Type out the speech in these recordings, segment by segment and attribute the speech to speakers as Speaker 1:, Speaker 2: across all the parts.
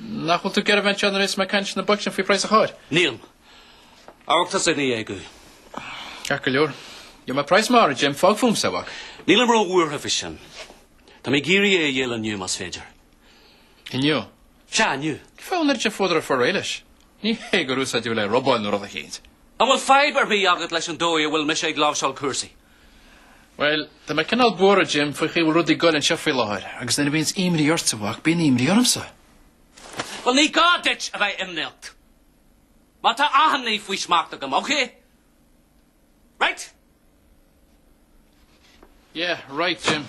Speaker 1: Nach bhfuil tú ag iarraidh bheith anseo anois is mé ag caint le bocs éicint faoi phraghas a chairr? Níl. Amharc thusa ar na déagóirí. Ach go leor. Gheobhaidh mé praghas maith, a Jim. Fág fúmsa, a mhac. Nílim ró-bhuartha faoi sin. Tá mé ag iarraidh é a dhíol inniu, más féidir. Inniu? Sea, inniu. Cén fáth an oiread sin fuadar ort fáil réidh leis. Ní hé gur úsáideadh é le robáil nó rud eicínt. An bhfuil fadhb ar bith agat leis an dóigh a bhfuil mise ag láimhseáil cúrsaí? Bhuel, tá mé cineál buartha, Jim, faoin gcaoi bhfuil rudaí ag goil anseo faoi láthair agus nuair a bhíonns imní ortsa, a mhac, bíonn imní ormsa. Bhuel, ní gá duit a bheith imníoch mar tá achan ní faoi smacht agam, ok? Right? Yeah, right, Jim.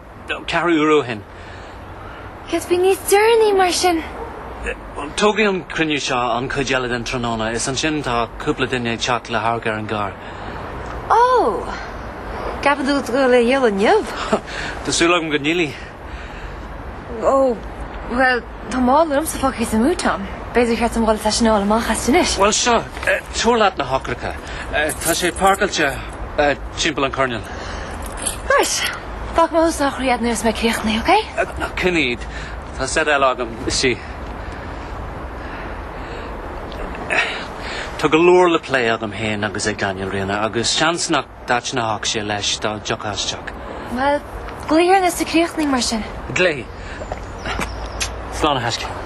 Speaker 1: Ceathrú uair ó shin. Cad faoi níos deireanaí mar sin? Tógfaidh an cruinniú seo an chuid eile den tráthnóna is ansin tá cúpla duine ag teacht le hamharc ar an gcarr. Ó! Ceapann tú go ndíolfaidh tú é inniu? Tá súil agam go ndíolfaidh. Ó, bhuel, Tá mála liomsa fágtha sa mbút ann. B'fhéidir gur cheart dom dhul is é sin a fháil amach as sin anois. Bhuel seo, tabhair leat na heochracha. Tá sé páirceáilte timpeall an choirnéil. Right. Fágfaidh mé thuas na heochraí a'd nuair atá mé críochnaithe, OK? Ná, coinnigh iad. Tá set eile agam istigh. Tá go leor le plé agam fhéin agus ag Daniel, a Ríona, agus seans nach dtaitneodh sé leis dá dtiocfá isteach. Bhuel, glaoigh orm nuair atá tú críochnaithe mar sin. Glaofaidh. Slán a thaisce.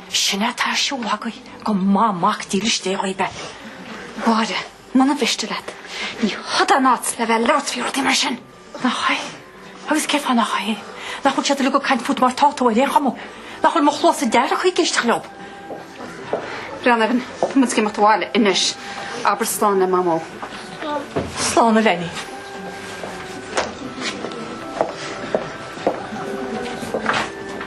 Speaker 1: Ó, is má tá sé ar siúl agaibh go mba mac dílis Dé dhaoibh é. Mháire, muna mhiste leat, ní heod an áit le bheith labhairt faoi rudaí mar sin. Nach é? Agus cén fáth nach é? Nach bhfuil siad uilig ag caint fút mar tá tú ar aon chuma? Nach bhfuil mo chluasa dearg ag éisteacht leob? Right, Evan, tá muid ag imeacht abhaile anois, abair slán le mamó. Slán a linbh.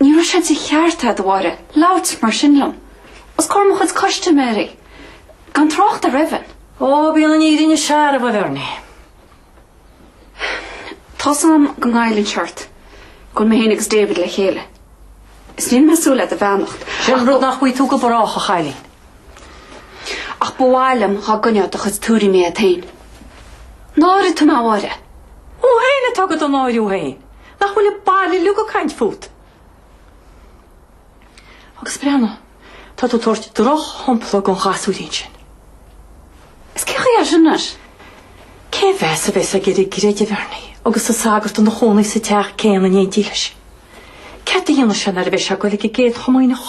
Speaker 1: Ní raibh sé de cheart agat, a Mháire, labhairt mar sin liom, os comhair mo chuid custaiméirí, gan trácht ar Evan. Ó, bíonn an fhírinne searbh, a Bhernie. Tá's a'm go ngoilleann sé ort go bhfuil mé féin agus David le chéile. Is níl mé súil le do bheannacht. Sin rud nach bhfaighidh tú go brách, a chailín. Ach ba mhaith liom dhá gcoinneofá do chuid tuairimí agat féin. Náirigh tú mé, a Mháire. Ó, tú héin atá ag do náiriú féin. Nach bhfuil an baile uilig ag caint fút? Agus breathnú, tá tú ag tabhairt drochshompla don ghasúirín sin. Is cén chaoi é sin leis? Cén meas a bheas aige ar an gcreideamh ar ndóigh agus an sagart ina chónaí sa teach céanna in éindí leis? Céard a dhéanfas sé nuair a bheas sé ag goil ag an gcéad chomaoineach?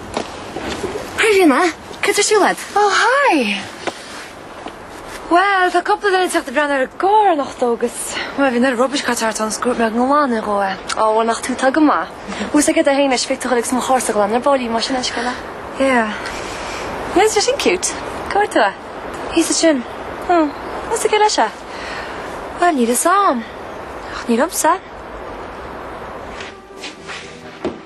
Speaker 1: Hey Ríona, céard atá ar siúl a'd? Oh hi! Bhuel, tá cúpla duine ag teacht ag breathnú ar an gcarr anocht agus bhuel, bhí na rubbish carts thart ann, shocraigh mé a ghlanadh dhó é. Ó, nach tú atá go maith. Thuas aige do fhéin leis, feictear dhom agus mo charrsa a ghlanadh ar ball mar sin an scéala. Yeah. Bhuel, is é sin cute. Cá bhfuair tú é? Thíos ansin. Hm, thuas aige leis é. Bhuel, níl fhios a'm. Ach ní liomsa.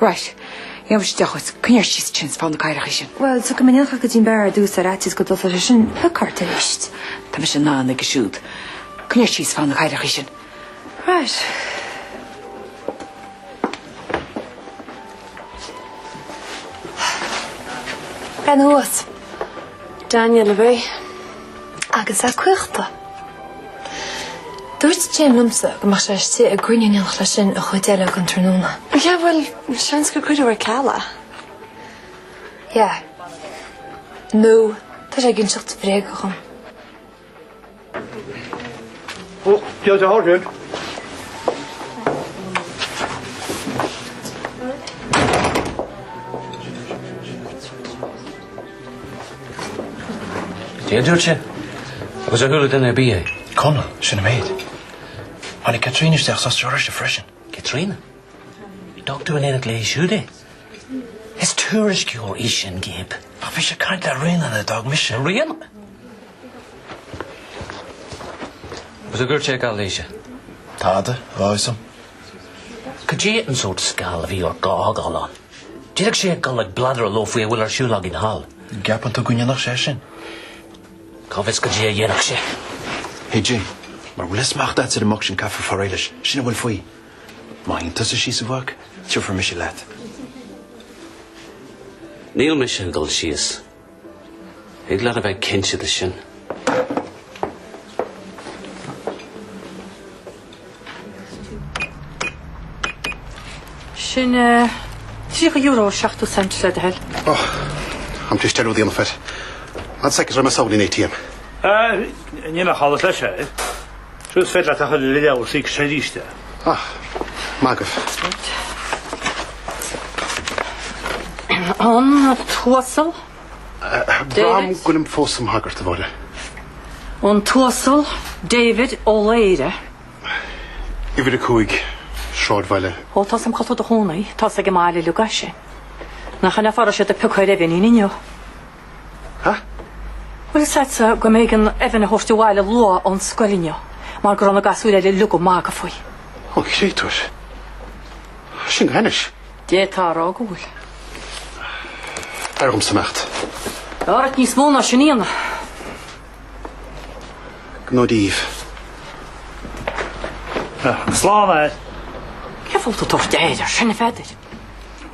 Speaker 1: Right. Níl mise deá dhuit. Coinnigh ort síos tinn is fág na cathaoireachaí sin. Bhuel, tiocfaidh mé in éineacht leat go dtí an beár ar dtús ar fhaitíos go dtosóidh sé sin leat arís. Tá mise in ann aige siúd. Coinnigh ort síos is fág na cathaoireachaí sin. Right. Bean thuas. Daniel a bhí. agus a cuiachta. Dúirt Jim liomsa go mbeadh sé istigh i gcruinniú in éineacht leis sin an chuid eile den tráthnóna. Yeah, bhuel, seans gur cuireadh ar ceal é. Yeah. Nó tá sé ag inseacht bréaga dhom. Ó, bhíodh sé thar cionn. Céard a dúirt sé agus ar chuala duine ar bith é. Conall, Sin an méid. Tháinig Caitríona isteach sa stáisiún freisin. Caitríona? D'fhág tú in éineacht léi siúd é. Is tuairisceoir í sin, Gabe. Ach bhí sí ag caint le Rhiannon a d'fhág mise. Rhiannon? Céard a dúirt sé, Gabe, léi? Tada, dhá thusa. Cén sórt scal a bhí ort dá fhágáil ann? D'fhéadfadh sé a ghoil ag bladar leo faoi a bhfuil ar siúl againn thall. An gceapann tú go ndéanfadh sé sin? Cá bhfios cad a dhéanfadh sé. Hidí, mara bhfuil smacht a'dsa ar an mboc sin caithfear fáil réidh leis, sin a bhfuil faoi. Má théann tusa síos a mhac, tiocfaidh mise leat. Níl mise ag dul síos. Thig leat a bheith cinnte de sin. Sin €30 70 cent le do thoil. Oh, an miste leat seic a dhéanamh. An seic, is cosúil le ATM? Ahh, níl ach allas leis é. Is féidir leat a thuilleadh le leabhar sa X arís de. Ah, magadh. Reit. An tUasal David. Braithim go bhfuilim fós i mo shagart, a Mháire. An tUasal David Ó Laoire. Uimhir a cúig, Sráidbhaile. Ó, tá's a'm cá bhfuil tú i do chónaí, tá's ag an mbaile uilig é. Nach in an fáth a raibh siad ag piocadh ar Evan féin inniu. Ha? Bhuel, is é an chaoi go mb'éigean Evan a thabhairt abhaile luath ón scoil inniu mar go raibh na gasúir eile uilig ag magadh faoi. Ó, an créatúr. Sin go hainnis. D'fhéadfá a rá go bhfuil. B'fhearr dhomsa imeacht. Bheadh ort níos mó ná sin a dhéanamh. Gnó díobh. Slán, Aire. Cén fáth a bhfuil tú ag tabhairt aird air sin, a Pheadair?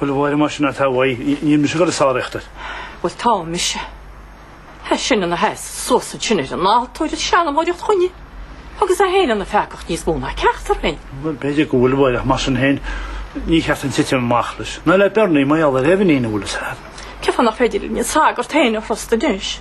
Speaker 1: Bhuel, a Mháire, más sin atá uaidh, níl mise ag gabháil ag sáraíocht air. Bhuel, tá mise. É sin ina sheasamh suas ansin ar an altóir ag seanmóireacht chugainne agus é féin ina pheacach níos mó ná ceachtar againn. Bhuel, b'fhéidir go bhfuil, a Mháire, ach mar sin féin, ní ceart dúinn titim amach leis. Ná le Bernie, ná le Evan féin an bhfuil a fhios agat. Cé fáth nach féidir linn an sagart féin a thrustáil anois?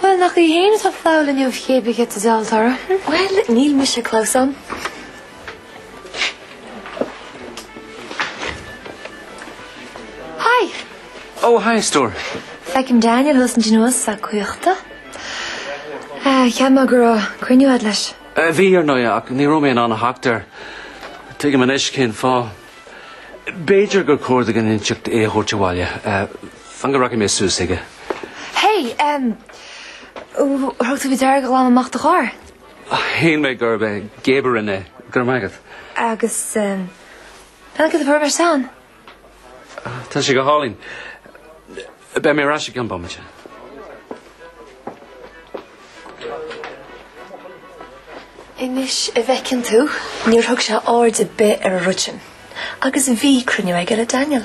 Speaker 1: Bhuel, nach é fhéin atá ag fágáil inniu, cibé cad a d'fhealltóra? Bhuel, níl mise ag cur suas leis. Hi! Oh, hi, Stuart. Feicim Daniel thuas ansin agus é caochta. Cheap mé go raibh cruinniú a'd leis. Bhí, ar ndóigh, ach ní raibh mé in ann a theacht air. Tuigim anois cén fáth. B'fhéidir gur chóir duit in éineacht é a thabhairt abhaile. Fan go rachaidh mé suas aige. Hey! Thug tú faoi deara gur glanadh amach do charr? Síleann mé gurb é Gabe a rinne é. Go raibh maith agat. Agus peann céadta purb ar san? Tá sé go hálainn. Beidh mé ar ais i gceann bomaite. Anois an bhfeiceann tú, níor thug sé aird ar bith ar an rud sin, agus bhí cruinniú aige le Daniel.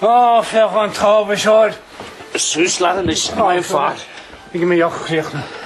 Speaker 1: Á, féach an t-ádh is óir. Suas leat anois, a Fhear Fear. Ag imeacht chríochnaithe.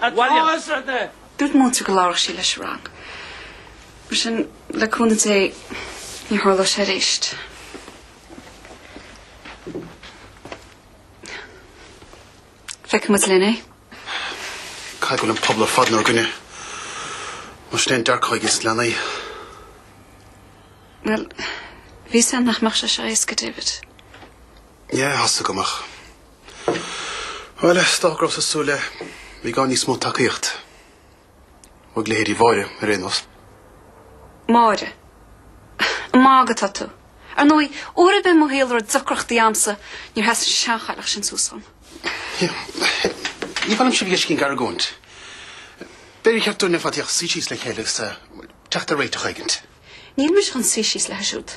Speaker 1: Williams. Dúirt an múinteoir go labhródh sí leis an rang. Mar sin, le cúnamh Dé, ní tharlóidh sé arís. Feicfimid linn é. Cá bhfios nach bhfuil an pobal ar fad inár gcoinne? Más in é an dearcadh ag leanaí. Bhuel, bhí a fhios againn nach mbeadh sé seo éasca, David. Yeah, tá a fhios agam, ach Bhuel, is dócha go rabhas ag súil le i bhfad níos mó tacaíocht ó leithéidí Mháire ar aon nós. Máire, an ag magadh atá tú? Ar ndóigh, uair ar bith i mo shaol a raibh deacrachtaí agamsa, níor sheas an seanchailleach sin suas dom. Ní maith liom sibh a fheiscint ag argóint. B'fhéidir gur cheart dúinn le fada teacht suí síos le chéile agus teacht ar réiteach éigin. Níl mise chun suí síos léithi siúd.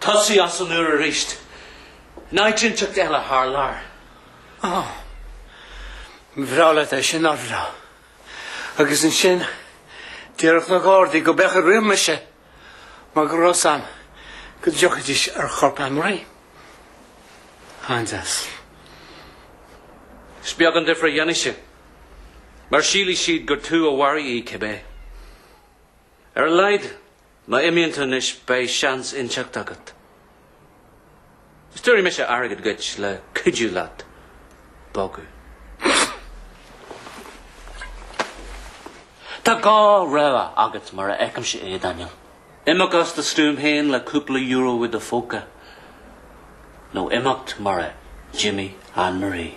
Speaker 1: Tosaigh as an nua arís. In áit inteacht eile thar lear. Oh. Bhreá leat é sin, nár bhreá? Agus ansin déarfadh na Gardaí gurb é an chaoi ar rith mise mar go raibh a fhios agam go dtiocfaidís ar chorp Anne-Marie. An-deas. Is beag an difir a dhéanfaidh sé, mar sílfidh siad gur tú a mharaigh í, cibé. Ar a laghad má imíonn tú anois beidh seans inteacht agat. Is tabharfaidh mise airgead duit le cuidiú leat bogadh. Tá dhá rogha agat mar a fheicimse é, Daniel. Imeacht as do stuaim féin le cúpla euro i do phóca nó imeacht mar a d'imigh Anne Marie.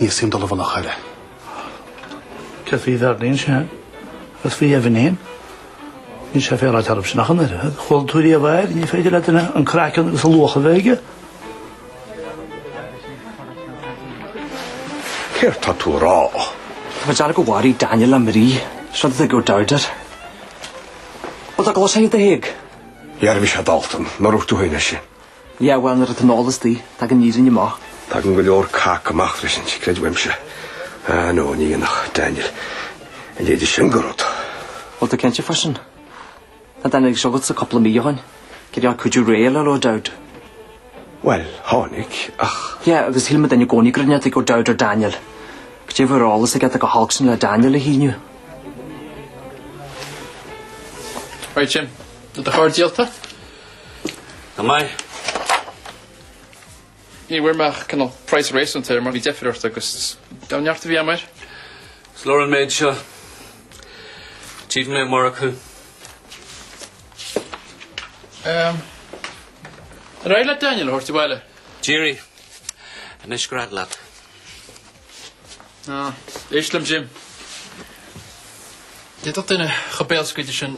Speaker 1: Níl suim dul i bhful a chaire. Céard faoi Bhearlín sé? Agus faoi Evan fhéin? Níl sé féaráilte oraibhse nach an oiread. Chuala tú riamh air? Ní féidir le duine an craiceann agus a luach a bheith aige. Céard tá tú a rá? Tá mé dearfa gur mharaigh Daniel Anne Marie. Is rud éigin gur dearg air. Bhfuil do ghlas aige do thig? Dhearbhaigh sé Dalton, ná raibh tú féin ar sin. Yeah bhuel, nuair atá an t-ól istigh, tagann an fhírinne amach. Tagann go leor cac amach freisin, creid uaimse. Ah no, ní dhéanfadh Daniel a leithéid sin de rud. Bhfuil tú cinnte faoi sin? Tháinig Daniel chugatsa cúpla mí ó shoin ag iarraidh cuidiú déileáil le O'Dowd. Bhuel, tháinig, ach. Yeah, agus shíl muidne i gcónaí go raibh neart ag O'Dowd ar Daniel. Goidé a bheadh ar eolas aige atá chomh holc sin le Daniel a shíniú. Right, Jim. Do charr díolta? Go maith. Ní bhfuair mé ach cineál praghas réasúnta air mar bhí deifir ort agus gan neart ar bith agam air. Is leor an méid seo. Míle maith agat. Ehm. Ar éirigh leat Daniel a thabhairt abhaile? D'éirigh. Anois gread leat. Ná, éist liom, Jim. D'fhéadfadh duine chomh béalscaoilte sin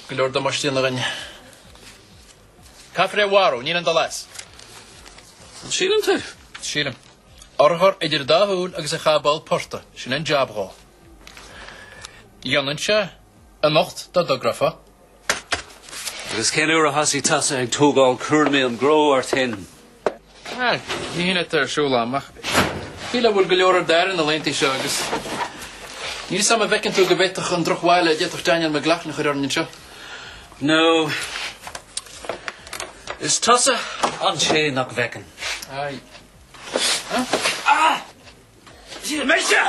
Speaker 1: go leor damáiste a dhéanamh dúinne. Caithfear é a mharú, níl aon dul as. An síleann tú? Sílim. Urchar idir dhá shúil agus é a chaitheamh i bpoll portaigh, sin an jab dhó. Dhéanfainnse anocht dá dtogrófá. Agus cén uair a thosaigh tusa ag tógáil cúraimí an chró ort féin? Níl aon rud ar siúl ann, ach fíle a bhfuil go leor ar d'aire na laethanta seo agus níl 'fhios a'm an bhfeiceann tú go baileach an drochbhail a d'fhéadfadh Daniel McLaughlin a chur orainn anseo? Nó is tusa an té nach bhfeiceann. Aye. Dia mise!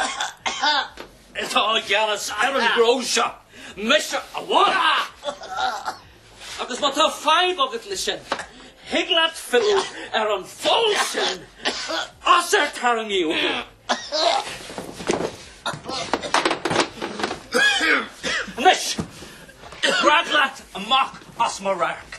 Speaker 1: Tá i gceannas ar an gcró seo! Mise amháin! Agus má tá fadhb agat leis sin, thig leat filleadh ar an pholl sin as ar tarraingíodh tú. Anois, bog leat amach as mo radharc.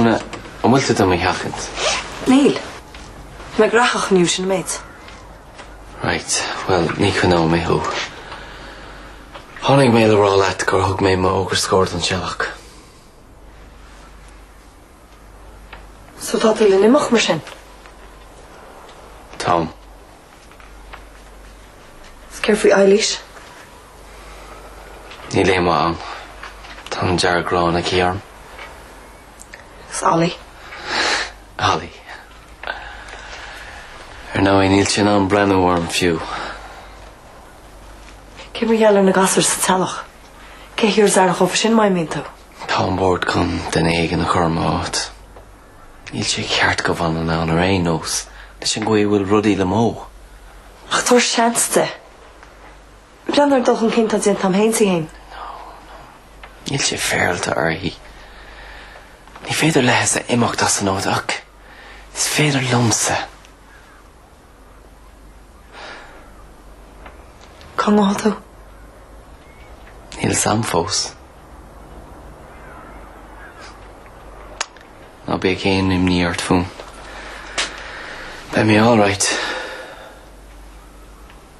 Speaker 1: Úna, an bhfuil tú do mo sheachaint? Níl. Tá mé gnóthach inniu, sin an méid. Right, bhuel, ní choinneoidh mé thú. Tháinig mé le rá leat gur thug mé m'fhógra scoir don Teallach. So tá tú le n-imeacht mar sin? Táim. Is céard faoi Eilís? Níl aon mhaith ann. Tá an dearg-ghrán aici orm. Is Ollie. Ollie. Ar ndóigh, níl sé in ann breathnú orm fiú. Cé mar gheall ar na gasúir sa teallach? Cé a thabharfas aire chomh fada is nach mbíonn tú? Tá an bord chun duine éigin a chur i m'áit. Níl sé ceart go bhfanfainn ann ar aon nós leis an gcaoi a bhfuil rudaí le Mo. Ach tabhair seans di. Breathnaigh an dul chun cinn atá déanta a'm fhéin is í fhéin. No, no. Níl sé féaráilte uirthi. Ní féidir léise imeacht as an áit ach is féidir liomsa. Cá ngabhfaidh tú? Níl 'fhios a'm fós. Ná bíodh aon imní ort fúm. Beidh mé alright.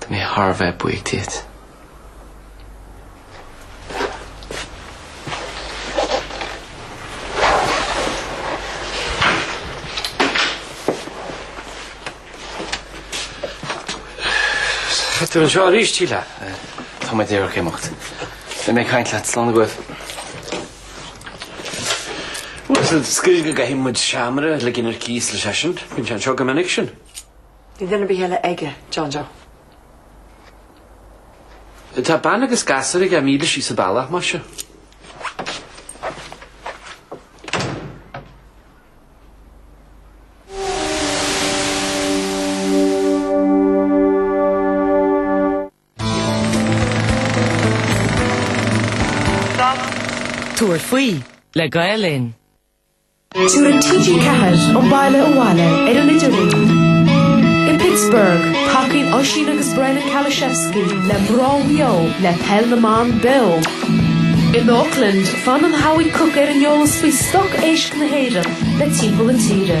Speaker 1: Tá mé thar a bheith buíoch díot. Tá tú anseo arís, Síle? Tá mé díreach ag imeacht. Beidh mé ag caint leat. Slán agaibh. Bhuel, is cosúil go gcaithfidh muid seamaire le ligean ar cíos leis sin. Bíonn sé anseo go minic sin. Bhfuil duine ar bith eile aige, John Joe. Tá bean agus gasúr aige míle síos an bealach, más ea. Tabhair faoi le Gael Linn. Tugann TG4 an baile abhaile ar an idirlíon. I Pittsburgh, tacaíonn Oisín agus Brennan Kaluszewski le Maigh Eo le Peil na mBan Beo. In Auckland, fanann Howie Cook ar an eolas faoi stoc éisc na hÉireann le Timpeall na Tíre.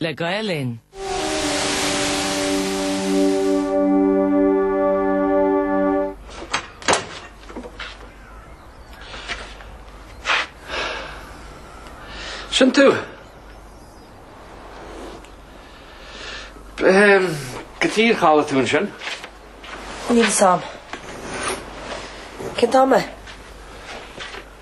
Speaker 1: le Gael Linn. Sin tú? Tuige ar chodail tú ansin? Níl fhios a'm. Cén t-am é?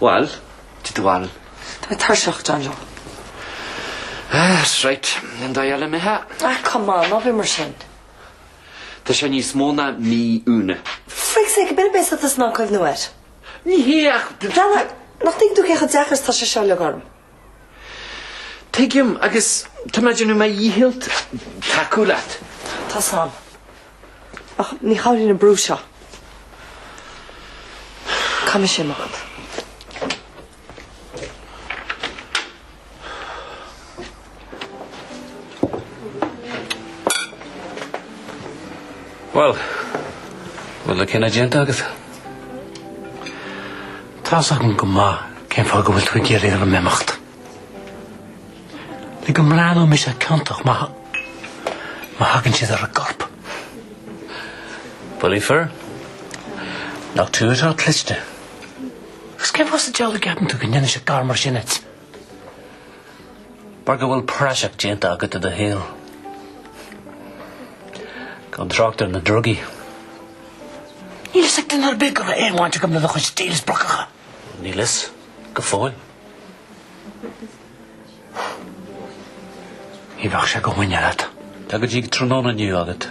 Speaker 1: Bhuel, di do bhail. Tá mé tuirseach, John Joe. That's right. An dá dheile mé hea? Ah, come on, ná bíodh mar sin. Tá sé níos mó ná mí, Úna. For frig's sake, b'fhéidir beidh said tusa in ann cuimhniú air. Ní hé ach. Dana, nach dtuigeann tú cé chomh deacair is atá sé seo uilig orm? Tuigim agus tá mé ag déanamh mo dhícheall tacú leat. Tá 's a'm. Ach ní chabhraíonn an brú seo. Cad é sin agat? Bhuel, bhfuil an cinneadh déanta agat? Tá 's agam go maith cén fáth go bhfuil tú ag iarraidh orm imeacht. Le go mbreathnóidh mise ciontach má thagann siad ar an gcorp. Bullaí fir, nach tú atá cliste. Agus cén fáth sa diabhal a gceapann tú go ndéanfainnse gar mar sin dhuit? Mar go bhfuil praiseach déanta agat de do shaol gan trácht ar na drugaí. Níl fhios ag duine ar bith go raibh aon bhaint agam le do chuid deals brocacha. Níl fhios, go fóill. Ní bheadh sé de mhuineál agat. Tá go dtí tráthnóna inniu agat.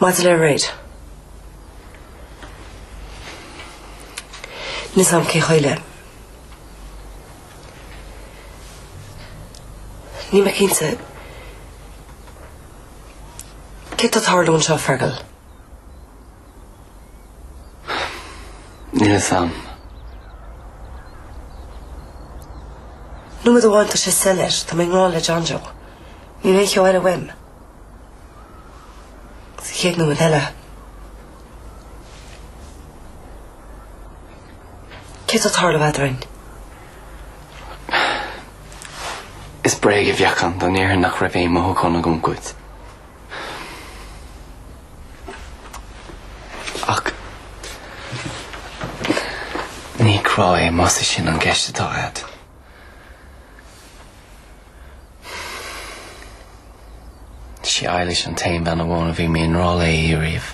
Speaker 1: Maidir le Reid, níl fhios a'm cén chaoi le. Níl mé cinnte céard atá ag tarlú anseo, Fergal. Níl fhios a'm. Nóiméad amháin tá sé soiléir, tá mé i ngrá le John Joe. Níl aon cheo eile uaim. Sa chéad nóiméad eile. Céard atá ag tarlú eadrainn? Is bréag a bheadh ann dá ndéarfainn nach raibh aon mhothúchán agam dhuit. Ach ní grá é más é sin an cheist atá agat. Is í Eilish an t-aon bhean amháin a bhí mé i ngrá léi riamh.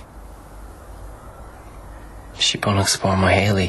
Speaker 1: Is í bun agus barr mo shaoil í.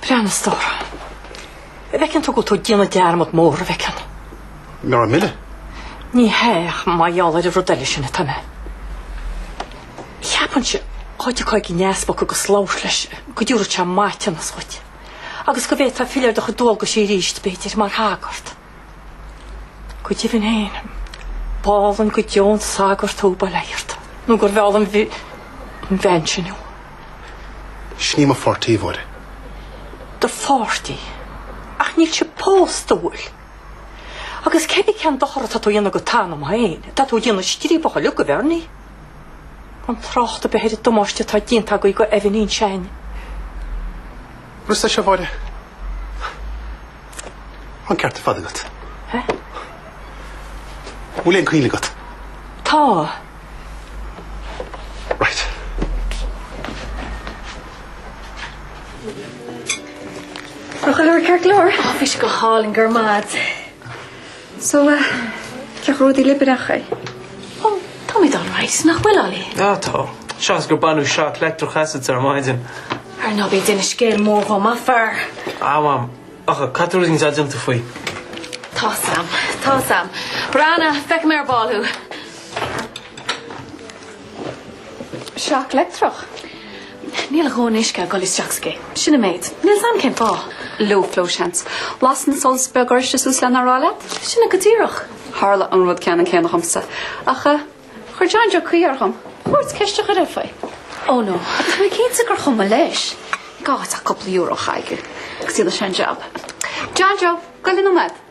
Speaker 1: Breathnaigh, a stór. An bhfeiceann tú go bhfuil tú ag déanamh dearmad mór, an bhfeiceann. Ná raibh mile. Ní hea, ach mar gheall ar an rud eile sin atá mé. Ceapaimse, dá dtiocfá ag an easpag agus labhairt leis, go dtiúrfadh sé maithiúnas dhuit. Agus go bhféadfá filleadh ar do chuid dualgaisí arís, b'fhéidir, mar shagart. Go deimhin féin, b'álainn go deo an sagart thú bail ó Dhia ort nó gur mheall an bhean sin thú. Sin í mo pháirtí, a Mháire. Do pháirtí? Ach níl sibh pósta, an bhfuil. Agus cé mhéad cén dochar atá tú a dhéanamh do t'anam féin? Tá tú ag déanamh striapach uiliug de Bherni. Gan trácht ar bith ar an damáiste atá déanta agaibh do Evanín. Sé an rud é seo, a Mháire. An ceart ar fad agat. An bhfuil aon chuimhne agat? Tá. Right. Tá chuile rud ceart go leor. Tá, bhí sé go hálainn, go raibh maith agat. So eh, ceacht rudaí libreach é. Ó, táimid alright, nach bhfuil, Ollie? Ah, tá. Seans gur baineadh shock leictreach asat ar maidin. Ar ndóigh, bhí duine scéil mór dhom, a Phar. Ah, mham. Ach cad tá rudaí dead iontu faoi? Tá, Sam. Tá, Sam. Brana, feicim ar an bhfál thú. shock leictreach. Níl a dhóthain uisce ag dul isteach aige. Sin an méid. Níl fhios a'm cén fáth. Low flow seans. Lasann an solas beag oráiste suas lena rá leat? Sin go díreach. Tharla an rud ceannann céanna dhomsa. Ach eh, chuir John Joe caoi air dhom. B'fhiú dhuit ceist a chur air faoi. Oh no, agus tá mé cinnte gur chuma leis. Caith cúpla euro chuige. Agus iad leis an jab. No no, go raibh maith agat.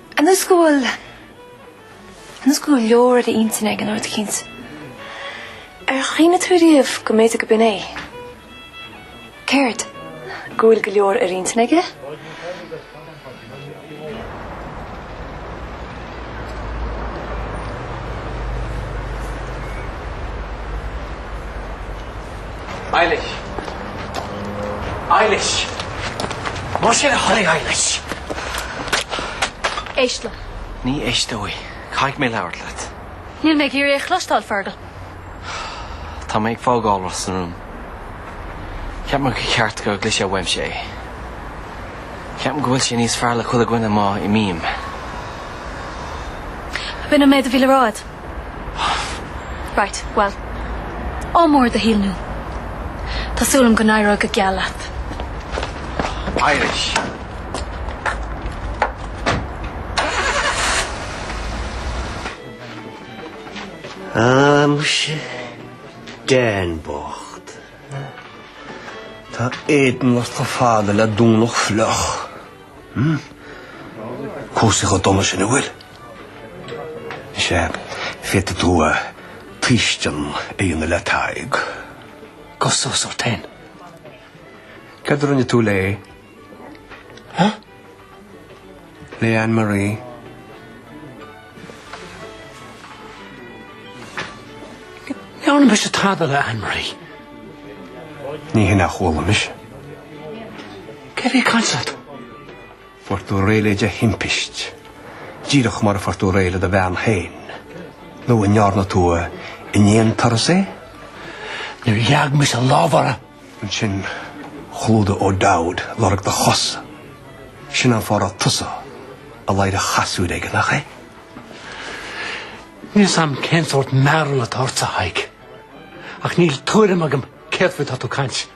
Speaker 1: An is go bhfuil, an is go bhfuil go leor ar a intinn aige cinnte? Ar chuimhnigh tú riamh go mb'fhéidir gurb in é? Céard? Go bhfuil go leor ar a intinn aige? Eilish! Eilish! Mar sin a tháinig Eilish! Éist liom. Ní éisteoidh. Caithfidh mé labhairt leat. Níl mé ag iarraidh é a chloisteáil, Fergal. Tá mé ag fágáil Ros na Rún. Cheap mé gur cheart go gcloisfeá uaimse é. Cheap mé go bhfuil sé níos fearr le chuile dhuine má imím. B'in an méid a bhí le rá a'd. Right, bhuel, ádh mór i do shaol nua. Tá súil agam go n-éireoidh go geal leat. Eilish. Ah, muise, Dan bocht. Tá éadan ort chomh fada le Domhnach fliuch. Cúrsaí chomh dona sin an bhfuil. Is ea, féadfaidh tú tuiscean a dhéanamh le Tadhg. Gabh suas ort féin. Céard a rinne tú léi? Huh? Le Anne Marie? Ní dhearna mise tada le Anne Marie. Ní hin a chuala mise. Cé a bhí ag caint leat? Fuair tú réidh léi de thimpiste, díreach mar a fuair tú réidh le do bhean féin? Nó an ndearna tú in aon turas é? Níor leag mise lámh orthu! Ansin chlúdaigh O'Dowd lorg do chosa. Sin an fáth a raibh tusa i ladhar an chasúir aige, nach é? Níl a fhios a'm cén sórt mearúil atá ortsa, a Thaidhg. Ach níl tuairim agam céard faoi atá tú ag caint.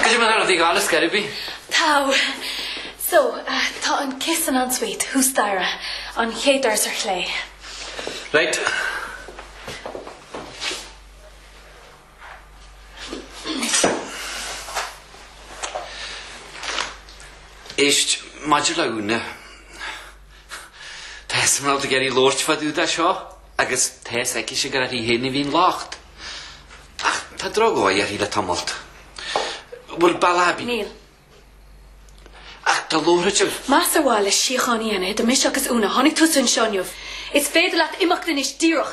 Speaker 1: Caithfidh mé thar an bhfiadh allus gairid bith. Tá. So, tá an chistin ansiúd, thuas staighre, an chéad doras ar chlé. Right. Éist, maidir le Úna, tá a smál ag iarraidh labhairt fadú dá seo agus tá a fhios aici sin gur uirthi féin a bhí an locht. Ach tá drogall uirthi le tamall. Bhfuil Ballabí? Níl. Ach tá láithreáit ar. Más ar mhaithe le síocháin a dhéanamh idir mise agus Úna, a tháinig tusa anseo inniu. Is féidir leat imeacht anois díreach!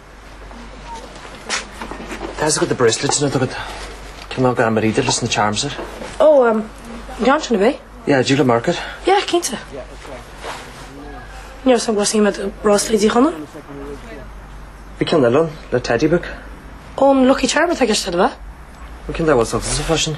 Speaker 1: Tá's agad na bracelets sin agad. Cin ná gan mar idir leis na charms ar? Ó, oh, um, John sin a bheith? Yeah, Julia Market? Yeah, cinnte. Níor san glasí me bracelet dí chana? Bí cin le le teddy book? Ón Lucky Charm a teiste a bheith? Cin le was of fashion?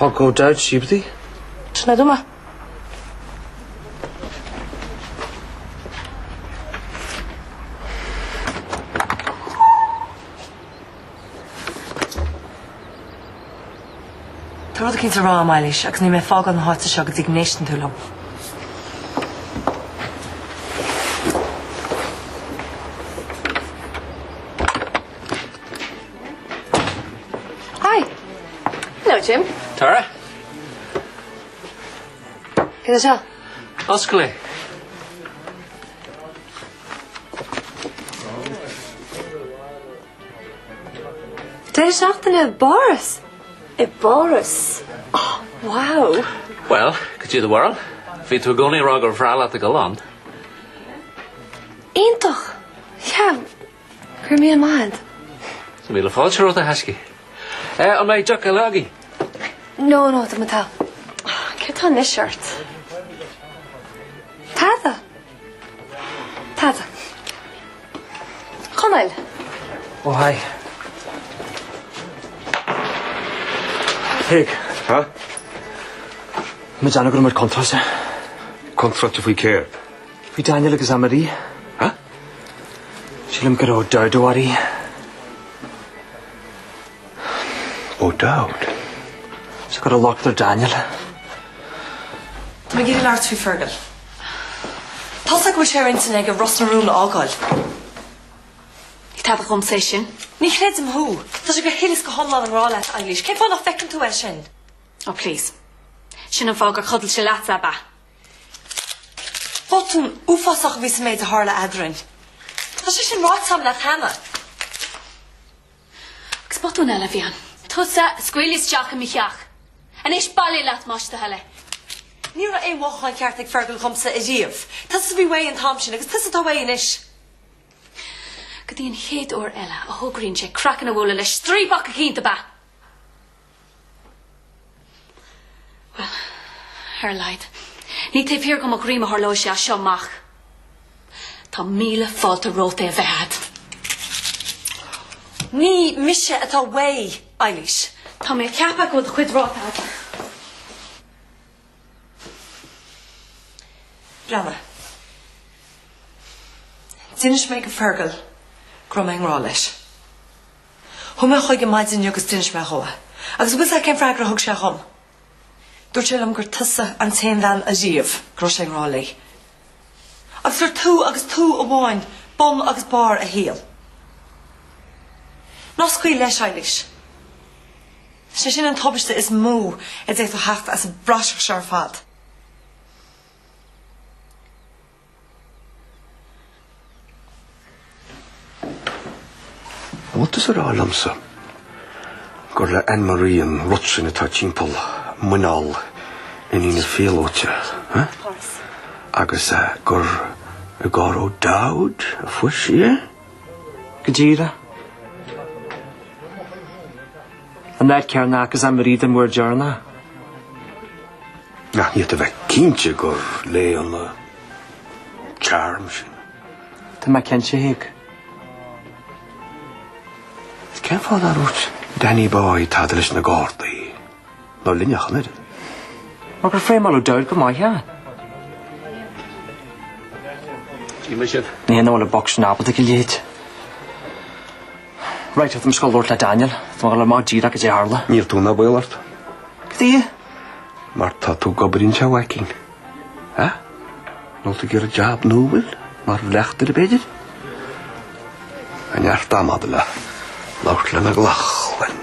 Speaker 1: I'll go down. Seo dhuit. Sin é. Go maith. Tá rud éicint le rá am Eilís agus níl mé ag fágáil na háite seo go dtí go n-éisteann tú liom. Hi. Hello Jim. Tara. Cad atá? Oscail é. Deireadh seachtaine i bPáras. I bPáras? Oh, wow. Well, goidé do bharúil. Bhí tú i gcónaí ag rá gur bhreá leat a ghoil ann. Iontach. Yeah, Chuir mé i mbad. Is míle fáilte romhat a thaisce. An mbeidh deoch eile againn? No, no, do mo tá. Céard tá anois ort? Tada! Tada. Conaill! Ó haigh. Thig. Ha? Muid ag cur amach comhráití. Comhráití faoi céard? Bhí Daniel agus Anne-Marie. Sílim go raibh Dowd i bhfad í. O'Dowd? Is go raibh locht ar Daniel. Tá mé ag iarraidh labhairt faoi Fergal. Tá's agat go bhfuil sé ar intinn aige Ros na Rún a fhágáil. Ní tada dhomsa é sin. Ní chreidim thú. Tá sé go huile is go hiomlán i ngrá leat, Eilís. Cén fáth nach bhfeiceann tú é sin? Ó, please. Sin an fáth gur chodail sé leat, ab ea? Botún uafásach a bhí sa méid a tharla eadrainn. Tá sé sin ráite agam leat cheana. Agus botún eile a bhí ann. Tusa a scaoil isteach i mo theach. Anois bailigh leat más do thoil é. Ní raibh aon mhothúchán ceart ag Fergal dhomsa ariamh. Tusa a bhí uaidh an t-am sin agus tusa atá uaidh anois. Go dtí an chéad uair eile a thograíonn sé craiceann a bhualadh le striapach eicínt ab ea? Bhuel, ar a laghad, ní taobh thiar de mo dhroim a tharlóidh sé as seo amach. Tá míle fáilte romhat é a bheith agat. Ní mise atá uaidh, Eilís. Tá mé ag ceapadh go bhfuil do chuid ráite agat. Breanna. D'inis mé do Fergal go raibh mé i ngrá leis. Chuaigh mé chuige maidin inniu agus d'inis mé dhó é. Agus an bhfuil 's a'd cén freagra a thug sé dhom? Dúirt sé liom gur tusa an t-aon bhean ariamh go raibh sé i ngrá léi. Agus gur tú agus tú amháin bun agus barr a shaoil. Ná scaoil leis, Eilís. Sé sin an tubaiste is mó a d'fhéadfadh theacht as an bpraiseach seo ar fad. Bhfuil tusa ag rá liomsa gur le Anne Marie an rud sin atá timpeall muineál iníon an phíolóta, agus gur i gcarr O'Dowd a fuair sí é. Go díreach. An áit a chonacthas Anne Marie den uair dheireanach. Ach ní thig a bheith cinnte gur léi an charm sin. Tá mé cinnte, Hugh. Is cén fáth nár dhúirt Danny Boy tada leis na Gardaí nó linne ach an oiread? Mar gur frameáil O'Dowd go maith é. Níl a dhath nach bhfuil an boc sin ábalta go leith. Right, tá mise ag goil a labhairt le Daniel. Tá mé ag goil a fháil amach go díreach cad é a tharla. Níl tú ná baol ort. Cad é? Mar tá tú ag obair anseo, a mhaicín. Hea? Nó an bhfuil tú ag iarraidh jab nua, bhuel, mar bhleachtaire, b'fhéidir? Tá neart ama a'd le labhairt le McLaughlin.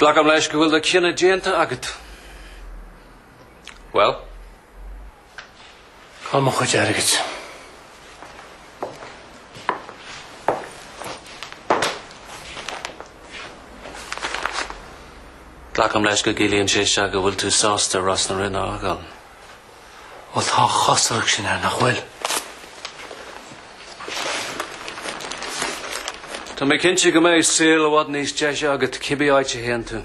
Speaker 1: Glacaim leis go bhfuil do chinneadh déanta agat. Bhuel. Cá bhfuil mo chuid airgid? Glacaim leis go gciallaíonn sé seo go bhfuil tú sásta Ros na Rún a fhágáil. Bhuel, tá an chosúlacht sin air, nach bhfuil? Tá mé cinnte go mbeidh saol i bhfad níos deise agat cibé áit a théann tú.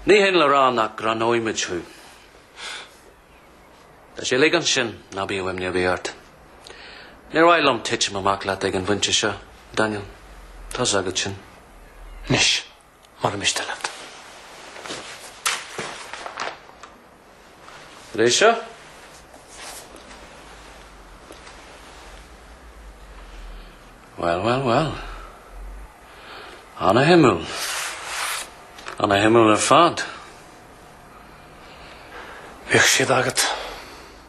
Speaker 1: Ní hionann le rá nach gcronóimid thú. Tá sé uilig ansin ná bíodh imní ar bith ort. Níor mhaith liom titim amach leat ag an bpointe seo, Daniel. Tá's agat sin. Anois, molaimid istigh leat. Tar éis seo, bhuel, bhuel, bhuel, an-shuimiúil, an-shuimiúil ar fad. Beidh siad agat.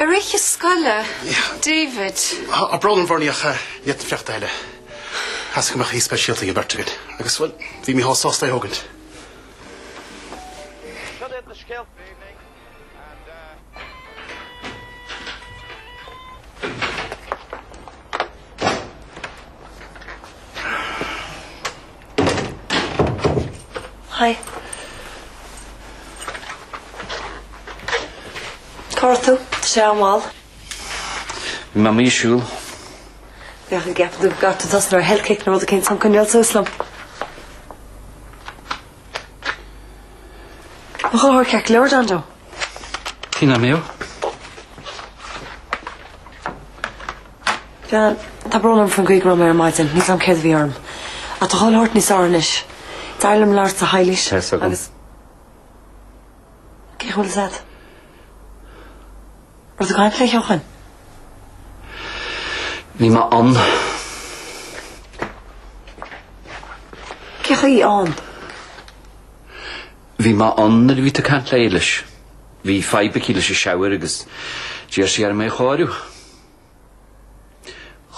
Speaker 1: Ar oíche scoile, David. Ach breá an bhuairt ort faoin tseachtain eile. Chas go mbeadh aoí speisialta ag an bheirt againn agus, bhuel, bhí Micheál sásta é a thógáil. Cad iad na scéalta? Hi. Cá raibh tú? Tá sé an-mhall. Bhí mé amuigh ag siúl. Beidh ortsa tosnú ar health kick nó rud éicint chun coinneáil suas liom. Tá tú ceart go leor, John Joe. Tine Mew. Tá brón orm faoin gcaoi go raibh mé ar maidin, níl a fhios agam céard a bhí orm. Ach tá cuma ort níos fearr anois. D'éirigh liom labhairt le hÉilís agus Cé chaoi a bhfuil sí? Rud a gcaithimid lé theochain? Bhí mé ann. Cé chaoi ann? Bhí mé ann nuair a bhí tú ag caint le Éilís. Bhí fadhb aici leis an sobhar agus d'iarr sí orm é a chóiriú.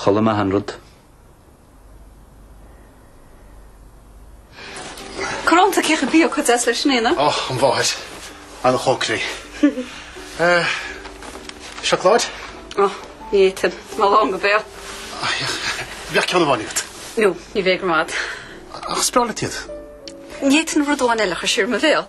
Speaker 1: Chuala mé chuile rud. Cén t-iontas cé chomh beag cuid as leis sin é, na? Ó, an bhóthair. An chócaireacht. Eh, seacláid? Ó, ní fhéadfainn. Tá mé lán go béal. Ó, thiocfadh. Beidh ceann amháin agat. Nó, ní bheidh go raibh maith agat. Ach is breá leat iad. Ní fhéadfainn rud amháin eile a chur siar i mo bhéal.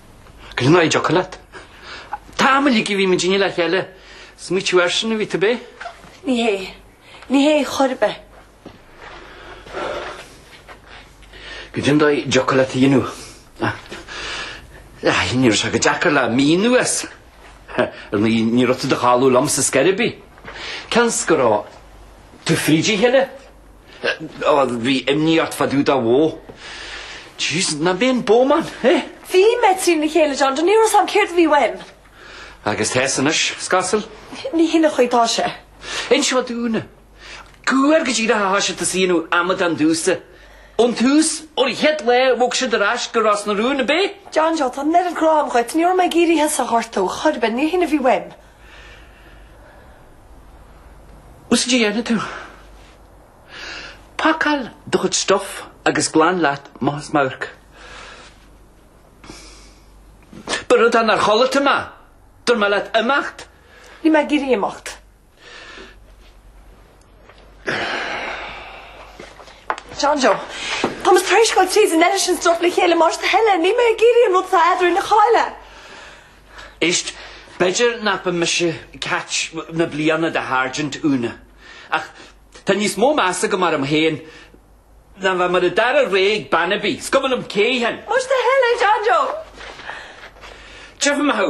Speaker 1: Go dtí ná id' fhocal leat. An t-am uilig a bhí muid in éineacht le chéile. Ag smaoineamh airsean a bhí tú, ab ea? Ní hé. Ní hé chor ar bith. Go dtí ná id' fhocal leat a dhéanamh. Ahh. Ní raibh sé Tá sé deacair é a mhíniú. Ar ndóigh ní raibh tú dáiríre liomsa chor ar bith. Cén chaoi a raibh tú tríd a chéile? Bhí imní ort faoi do dhá bhó. Jeez, nach mé an bómán, eh? Bhí mé trína chéile, John Joe, ní raibh a fhios agam céard a bhí uaim. Agus tá a fhios anois, is cosúil? Ní hin an chaoi a bhfuil sé. Inis do Úna. Cuar go díreach a thosaigh sibh ag déanamh amadán díomsa. Ón tús, ón gcéad lá a bhog siad ar ais go Ros na Rún, ab ea? John Joe, tá an oiread grá agam dhuit, ní raibh mé ag iarraidh thusa a ghortú, chor ar bith, ní hin a bhí uaim. A bhfuil a fhios agat céard a dhéanfaidh tú. Pacáil do chuid stuff agus glan leat as m'amharc. B'fhearr dhuit dá gcloisfeá mé! Dúirt mé leat imeacht! Níl mé ag iarraidh imeacht. John Joe, Tá mo thréisceáil tríd an eile sin stróc le chéile, más do thoil é, níl mé ag iarraidh an rud is eadra le codladh. Éist, b'fhéidir nach mba mise Catch na Bliana a Sháirsint, Úna. Ach tá níos mó meas agam orm féin ná bheith mar an dara rogha ag bean ar bith. 's cuma liom cé hí féin! What the hell é John Joe? Feicfidh mé thú!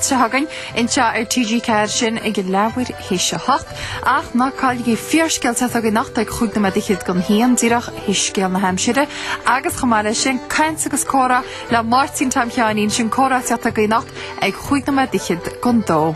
Speaker 1: Teacht againn anseo ar TG4 sinn i gceann leathuair théis a hocht, ach ná cailligí Fíorscéal atá ag teacht againn anocht ag cúig nóiméad is fiche don haon, díreach théis Scéal na hAimsire, agus chomh maith leis sin, Caint agus Comhrá le Máirtín Tom Sheáinín, sin Comhrá atá ag teacht againn anocht ag cúig nóiméad is fiche don dó.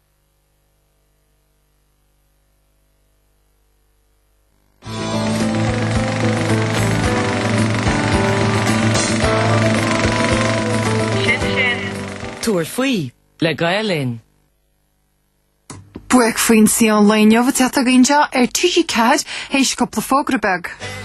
Speaker 1: Sin sin. Tabhair faoi le Gael Linn. Buaicphointí an lae inniu atá ag teacht againn anseo ar TG4 théis cúpla fógra beaga.